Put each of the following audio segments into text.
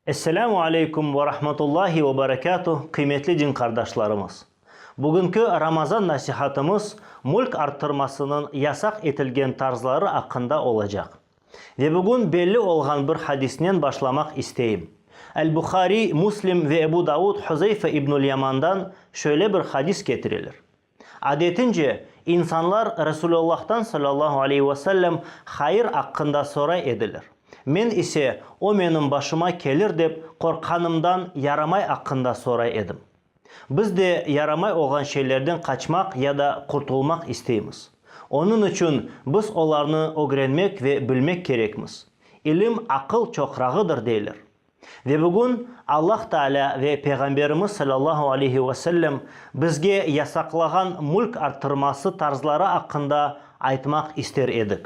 Esselamu aleykum ve rahmetullahi ve berekatuh, qıymetli din qardaşlarımız! Bugünki Ramazan nasihatımız mülk arttırmasınıñ yasaq etilgen tarzları aqqında olacaq. Ve bugün belli olğan bir hadisnen başlamaq isteyim. El-Buhariy, Muslim ve Ebu Davud Huzeyfe ibnül Yamandan şöyle bir hadis ketireler, Adetince, insanlar Resulullah'tan sallallahu aleyhi ve sellem hayır aqqında soray ediler. Men ise, o menim başıma kelir dep qorqqanımdan yaramay aqqında soray edim. Biz de yaramay olğan şeylerden qaçmaq ya da qurtulmaq isteymiz. Onıñ içün biz olarnı ögrenmek ve bilmek kerekmiz. İlim aqıl çoqrağıdır deyler. Ve bugün Allah Taalâ ve Peyğamberimiz salâllahu aleyhi ve sellem bizge yasaqlağan mülk arttırması tarzları aqqında aytmaq ister edik.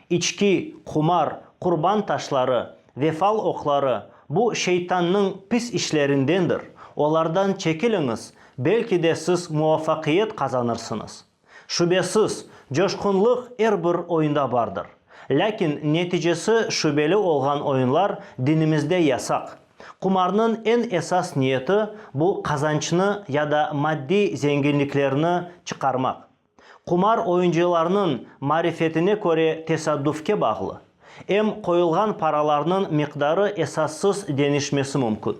İçki, qumar, qurban taşları ve fal oqları, bu şeytannıñ pis işlerindendir, olardan çekiliñiz, belki de siz muvafaqiyet qazanırsıñız. Şübesiz, coşqunlıq er bir oyunda bardır. Lâkin neticesi şübeli olğan oyunlar dinimizde yasaq. Qumarnıñ eñ esas niyeti, bu qazançnı ya da maddiy zenginliklerni çıqarmaq. Qumar oyuncılarnıñ marifetine köre tesadüfke bağlı, em qoyulğan paralarnıñ miqdarı esassız deñişmesi mümkün.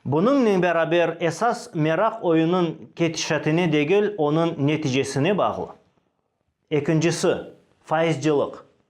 Bunıñnen beraber, esas meraq oyunıñ ketişatine degil, onıñ neticesine bağlı. Ekincisi, faizcılıq.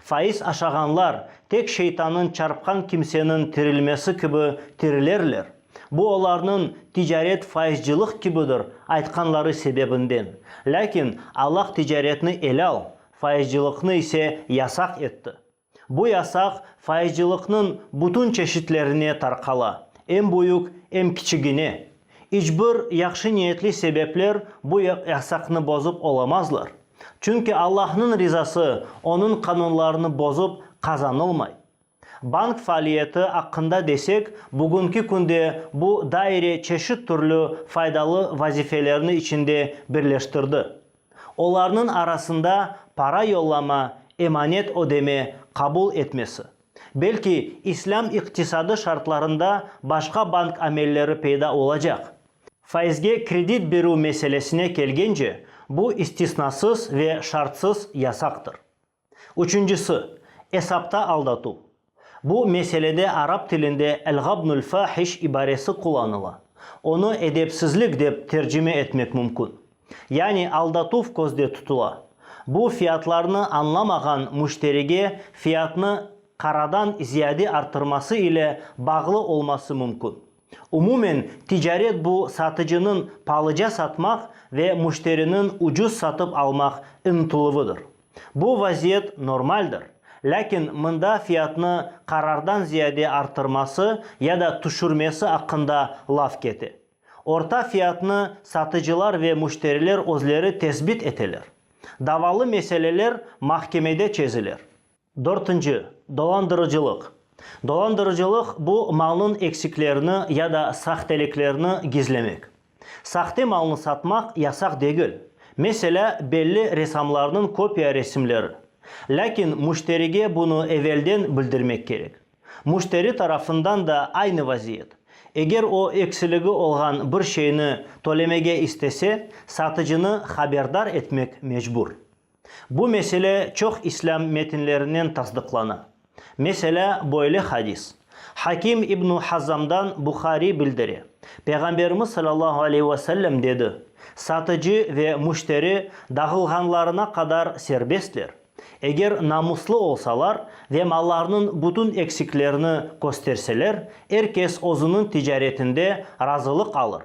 Faiz aşağanlar, tek şeytanıñ çarpqan kimseniñ tirilmesi kibi tirilerler, bu olarnıñ ticaret faizcılıq kibidir aytqanları sebebinden. Lâkin Allah ticaretni elâl, faizcılıqnı ise yasaq etti. Bu yasaq faizcılıqnıñ bütün çeşitlerine tarqala, em büyük, em kiçigine. İç bir yahşı niyetli sebepler bu yasaqnı bozıp olamazlar. Çünki Allahnıñ rizası onıñ qanunlarını bozup qazanılmay. Bank faaliyeti aqqında desek, bugünki künde bu daire çeşit türlü faydalı vazifelerni içinde birleştirdi. Olarnıñ arasında para yollama, emanet ödeme, qabul etmesi. Belki, islâm iqtisadı şartlarında başqa bank amelleri peyda olacaq. Faizge kredit berüv meselesine kelgence, bu istisnasız ve şartsız yasaqtır. Üçüncisi, esapta aldatuv. Bu meselede arap tilinde el-ğabnul fahiş ibaresi qullanıla. Onı edepsizlik dep tercime etmek mümkün. Yani aldatuv közde tutula. Bu fiyatlarnı añlamağan müşterige fiyatnı qaradan ziyade arttırması ile bağlı olması mümkün. Umumen, ticaret bu satıcınıñ palıca satmaq ve müşteriniñ ucuz satıp almaq ıntıluvıdır. Bu vaziyet normaldir, lâkin mında fiyatnı qarardan ziyade arttırması ya da tüşürmesi aqqında laf kete. Orta fiyatnı satıcılar ve müşteriler özleri tesbit eteler. Davalı meseleler mahkemede çeziler. Dörtünci, dolandırıcılıq. Dolandırıcılıq, bu malnıñ eksiklerini ya da sahteliklerini gizlemek. Sahte malnı satmaq yasaq degil, meselâ, belli ressamlarnıñ kopiya resimleri, lâkin müşterige bunı evelden bildirmek kerek. Müşteri tarafından da aynı vaziyet. Eger o eksiligi olğan bir şeyni tölemege istese, satıcını haberdar etmek mecbur. Bu mesele çoq islâm metinlerinen tasdıqlana. Meselâ, böyle hadis Hakim ibn Hazzamdan Buhariy bildire, Peyğamberimiz sallallahu aleyhi ve sellem dedi, Satıcı ve müşteri dağılğanlarına qadar serbestler, eger namuslı olsalar ve mallarnıñ bütün eksiklerini kösterseler, er kes özüniñ ticaretinde razılıq alır.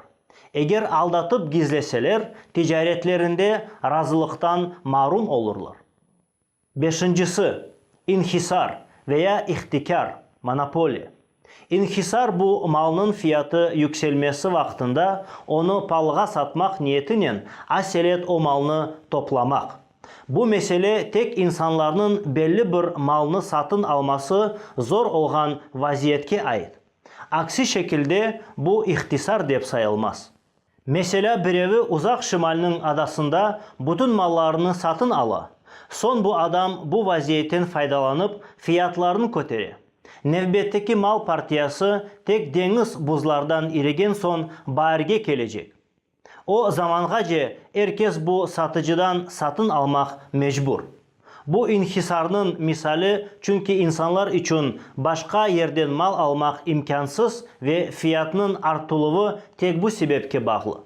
Eger aldatıp gizleseler, ticaretlerinde razılıqtan marum olurlar. Beşincisi, inhisar ve ya ihtikâr, monopoliya. İnhisar bu malnıñ fiyatı yükselmesi vaqtında onı palğa satmaq niyetinen aselet o malnı toplamaq. Bu mesele tek insanlarnıñ belli bir malnı satın alması zor olğan vaziyetke ait. Aksi şekilde bu ihtisar dep sayılmaz. Meselâ, birevi Uzaq Şimalniñ adasında bütün mallarını satın ala, soñ bu adam bu vaziyetten faydalanıp fiyatlarını kötere. Nevbetteki mal partiyası tek deñiz buzlardan irigen soñ baarge kelecek. O zamanğace er kes bu satıcıdan satın almaq mecbur. Bu inhisarnıñ misali, çünki insanlar içün başqa yerden mal almaq imkânsız ve fiyatnıñ artıluvı tek bu sebepke bağlı.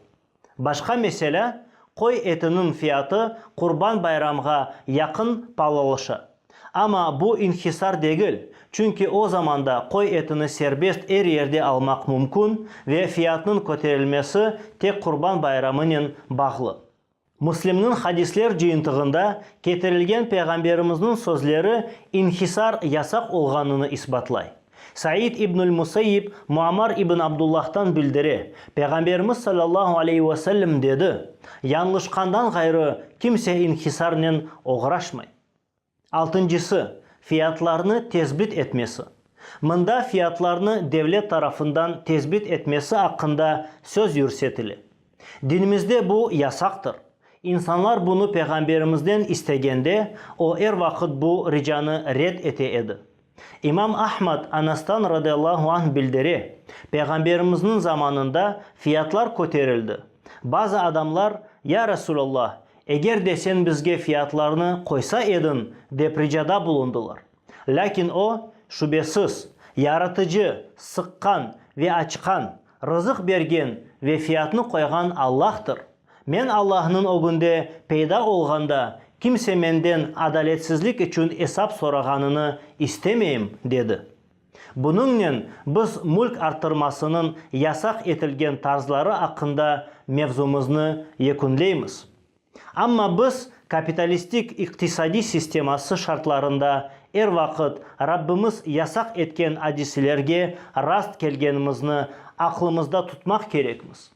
Başqa meselâ, qoy etiniñ fiyatı Qurban Bayramğa yaqın palalaşa. Amma bu inhisar degil, çünki o zamanda qoy etini serbest er yerde almaq mümkün ve fiyatnıñ köterilmesi tek Qurban bayramınen bağlı. Müslimniñ hadisler cıyıntığında ketirilgen Peyğamberimizniñ sözleri inhisar yasaq olğanını isbatlay. Said ibnül Müseyyib Muammar ibn Abdullah'tan bildire, Peyğamberimiz sallallahu aleyhi ve sellem dedi, Yañlışqandan ğayrı kimse inhisarnen oğraşmay. Altıncısı, fiyatlarnı tesbit etmesi. Mında fiyatlarnı devlet tarafından tesbit etmesi aqqında söz yürsetile. Dinimizde bu yasaqtır. İnsanlar bunı Peyğamberimizden istegende, o er vaqıt bu ricanı red ete edi. İmam Ahmad Anastan radıyallahu anh bildire, Peyğamberimizniñ zamanında fiyatlar köterildi. Bazı adamlar, Ya Resulallah, eger de sen bizge fiyatlarnı qoysa ediñ, dep ricada bulundılar. Lâkin o, Şübesiz, Yaratıcı, sıqqan ve açqan, Rızıq bergen ve fiyatnı qoyğan Allahtır. Men Allahnıñ ögünde peyda olğanda kimse menden adaletsizlik içün esap sorağanını istemeyim, dedi. Bunıñnen biz mülk arttırmasınıñ yasaq etilgen tarzları aqqında mevzumıznı yekünleymiz. Amma biz kapitalistik iqtisadiy sisteması şartlarında er vaqıt Rabbimiz yasaq etken adiselerge rast kelgenimizni aqlımızda tutmaq kerekmiz.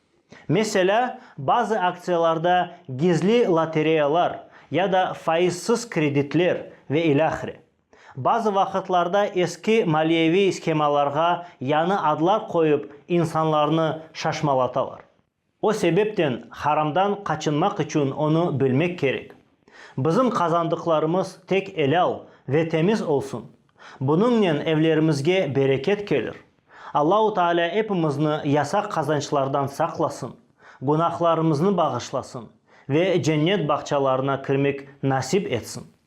Meselâ, bazı aktsiyalarda gizli lotereyalar ya da faizsiz kreditler ve ilâhre. Bazı vaqıtlarda eski maliyeviy shemalarğa yañı adlar qoyıp insanlarnı şaşmalatalar. O sebepten haramdan qaçınmaq içün onı bilmek kerek. Bizim qazandıqlarımız tek elâl ve temiz olsun. Bunıñnen evlerimizge bereket kelir. Allahu Taalâ epimizni yasaq qazançlardan saqlasın, günahlarımıznı bağışlasın ve cennet bağçalarına kirmek nasip etsin.